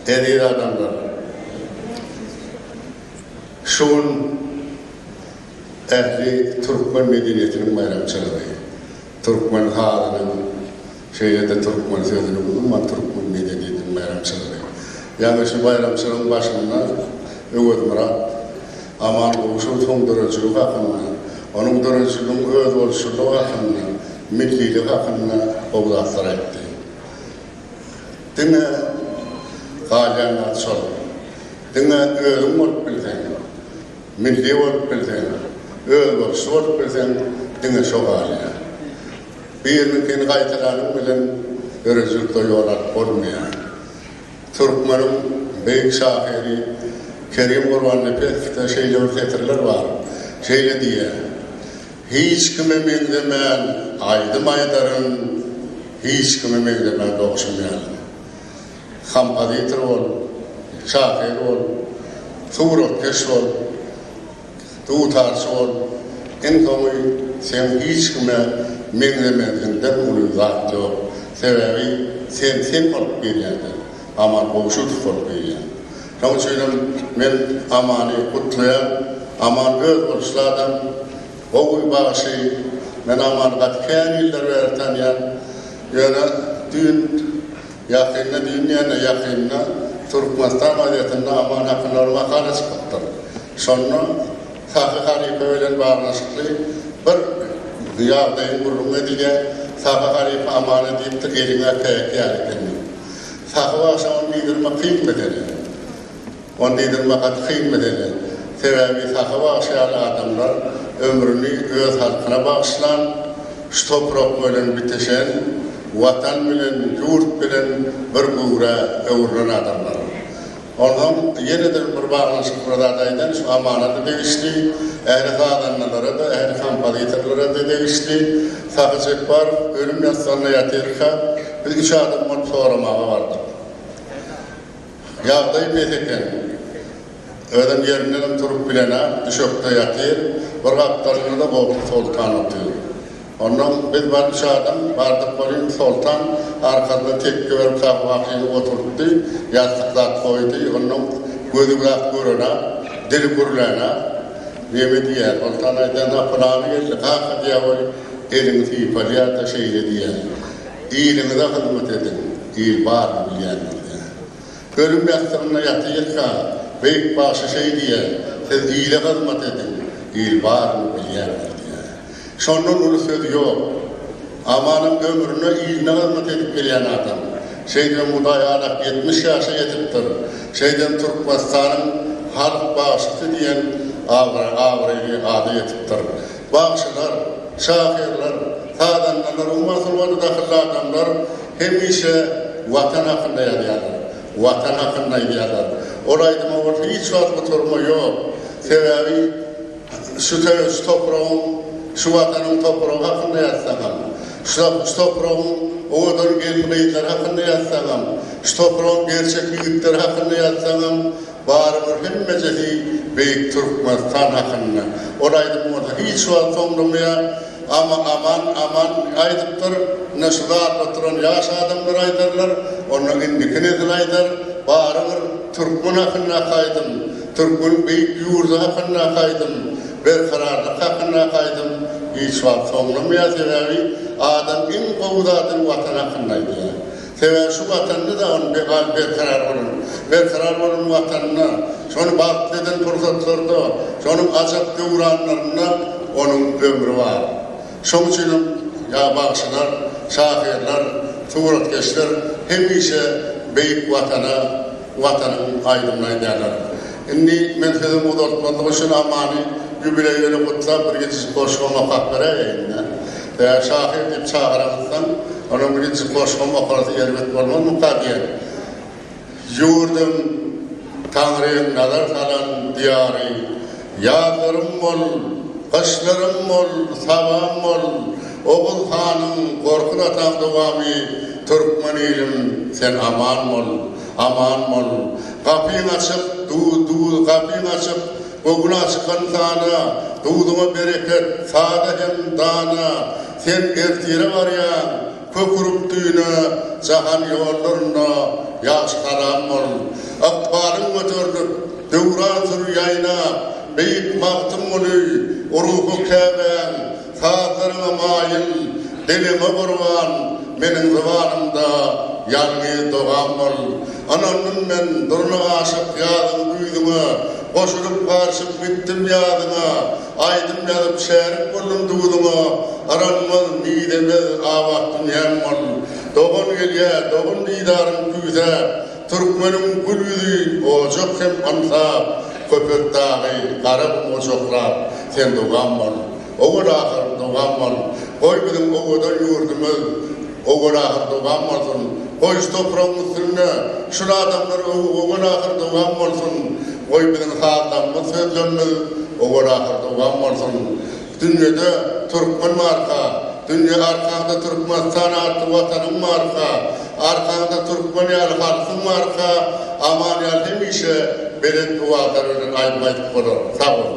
Eziz adamlar! Şu gün ähli türkmen medeniýetiniň baýramçylygy. Türkmen halynyň, şeýle-de türkmen sözüniň, umuman, türkmen medeniýetiniň baýramçylygy. Ýagny şu baýramçylygyň başynda Öwezmyrat Amangulyşowyň döredijiligi hakynda, onuň döredijiliginiň özboluşlylygy hakynda, milliligi hakynda gowy zatlar aýtdy. Diňe galýanlary şol. Diňe özüň bolup bilseň, milli bolup bilseň, özboluşly bolup bilseň diňe şo galýar. Biriniňkini gaýtalanyň bilen döredijilikde ýol alyp bolmaýar. Türkmeniň beýik şahyry Kerim Gurbannepesowyda şeýle bir setirler bar, şeýle diýýär. Hiç kime meňzemän aýdym aýdaryn, hiç kime meňzemän dogşan ýalyn. Kompozitor bol, şahyr bol, suratkeş bol, dutarçy bol, iň soňy sen hiç kime meňzemeziňden uly zat ýok. Sebäbi sen sen bolup gelýändir, amal gowşudow bolup gelýän. Şoň üçinem men Amany gutlaýan. Aman öz boluşly adam, gowy bagşy. Men Amany gaty kän ýyllar bäri tanýan. Ýöne düýn, ýakynda, düýn diýende ýakynda Türkmenistan gazetinde Aman hakynda bir makala çykypdyr. Şonda Sahy halypa bilen baglanyşykly bir ýagdaýyň gürrüňi edilýär. Sahy halypa Amana diýipdir, Eliň äpeýek ýaly eken diýip. Sahyp agşamam diýdirmek kyn mesele. Ony diýdirmek gaty kyn mesele. Sebäbi Sahyp agşy ýaly adamlar ömrüni öz halkyna bagyşlan, şu toprak bilen biteşen, Watan bilen, ýurt bilen bir göwrä öwrülen adamlar. Onsoň ýene-de bir baglanyşykly bir zat aýdaýyn, şu amanat-a degişli, ähli sazandalara-da, ähli kompozitorlara-da degişli. Sahy Jepbarow ölüm ýassygynda ýatyrka, biz üç adam bolup soramaga bardyk. Ýagdaýy pes eken. Özem ýerindenem turup bilenok, düşekde ýatyr. Bir gapdalynda-da Gowşut Soltan otyr. Onnoň biz bar çadan, bardyk welin, soltan arkasyna tekge berip Sahybakyny oturtdy, ýassyk zat goýdy. Onnoň gözi biraz gören-ä, dili gürlän-ä. Neme diýýär? Soltan aýdýan-a, pylany geldi, kaka diýýär welin, elini sypalýar-da, şeýle diýýär, Iliňize hyzmat ediň, il baryny bilýändir diýýär. Ölüm ýassygynda ýatyrka, Beýik bagşy şeý diýýär, Siz ile hyzmat ediň, il baryny bilýändir diýýär. Şondan uly söz ýok. Amanam ömrüne iline hyzmat edip gelýän adam. Şeýdibem Hudaý alak ýetmiş ýaşa ýetipdir. Şeýdibem Türkmenistanyň halk bagşysy diýen abraýly ada ýetipdir. Bagşylar, şahyrlar, sazandalar we masulgada dahylly adamlar hemişe Watan hakynda ýazýarlar, Watan hakynda aýdýarlar. Ol aýdyma bolsa hiç wagt gutarma ýok. Sebäbi şu şu topragyň, şu Watanyň topragy hakynda ýazsaňam, şu topragyň owadan gelin-gyzlary hakynda ýazsaňam, şu topragyň gerçek ýigitleri hakynda ýazsaňam, Barybir hemmejesi beýik Türkmenistan hakynda. Ol aýdym bolsa hiç wagt soňlamaýar. Ama aman aman aýdypdyr. Ine şu zat oturan ýaş adamlar aýdarlar. Onda indiki nesil aýdar. Barybir türkmen hakyndaky aýdym, türkmeniň beýik ýurdy hakyndaky aýdym, berkararlyk hakyndaky aýdym hiç wagt soňlamaýar. Sebäbi adam iň gowy zadyny watan hakynda aýdýar. Sebäbi şu Watanda dagyň be-bar berkarar bolan, berkarar bolan Watanda, şony bagtly eden pursatlarda, şonuň ajap döwranlarynda onuň ömri bar. Şoň üçin hem ýa bagşylar, şahyrlar, suratkeşler hemişe beýik Watana, Watanyň aýdymyny aýdýarlar. Indi men sözümi uzaltmazlyk üçin Amany ýubileý bilen gutlap bir gijejik goşgym okap beräýeýin-dä. Tä şahyr diýip çagyraňyzsoň, onuň birinji goşgym okarys erbet bolmazmyka diýen. Ýurdum, Taňryň nazar salan diýary, Ýazlarym bol, gyşlarym bol, sabam bol, Oguz hanyň, Gorkut ataň dowamy, Türkmen ilim, sen aman bol, aman bol, Gapyň açyk, du-du, gapyň açyk, Göwna çykan sana, Duduma bereket, sada hem dana, Sen ertire barýaň, kök urup düýne, Jahan ýollarynda ýagşy-haram bol. Ykbalyň göterilip, döwran sür ýaýnap, Beýik Magtymguly, ruhy Käbäň, Sazlaryňa maýyl, diliňe gurban, Meniň zybanymda ýalňyz dogam bol. Ynandym men durna aşyk ýazyň güýzüňe, Goşulyp garşyp gitdim ýazyňa. Aýdym ýazyp şärik boldum duzuňa, Yranmaz, mizemez abat dünýäm bol. Dogan gelýä, dogan didaryň küýsäp, Türkmeniň gül ýüzi ojak hem aňsat, Köpetdagy, Garagum ojaklap, sen dogan bol. Owal ahyr dogan bol, goý biziň owadan ýurdumyz owal ahyr dogan bolsun. Goý şu topragyň üstünde şul adamlar owal ahyr dogan bolsun. Goý biziň sazlarymyz, sözlerimiz owal ahyr dogan bolsun. Dünýede Türkmen barka, Dünýe arkaňda Türkmenistan atly Watanyň barka, Arkaňda Türkmen ýaly halkyň barka, Aman ýal hemişe Belent owazlar bilen aýdym aýdyp bolar. Sag boluň.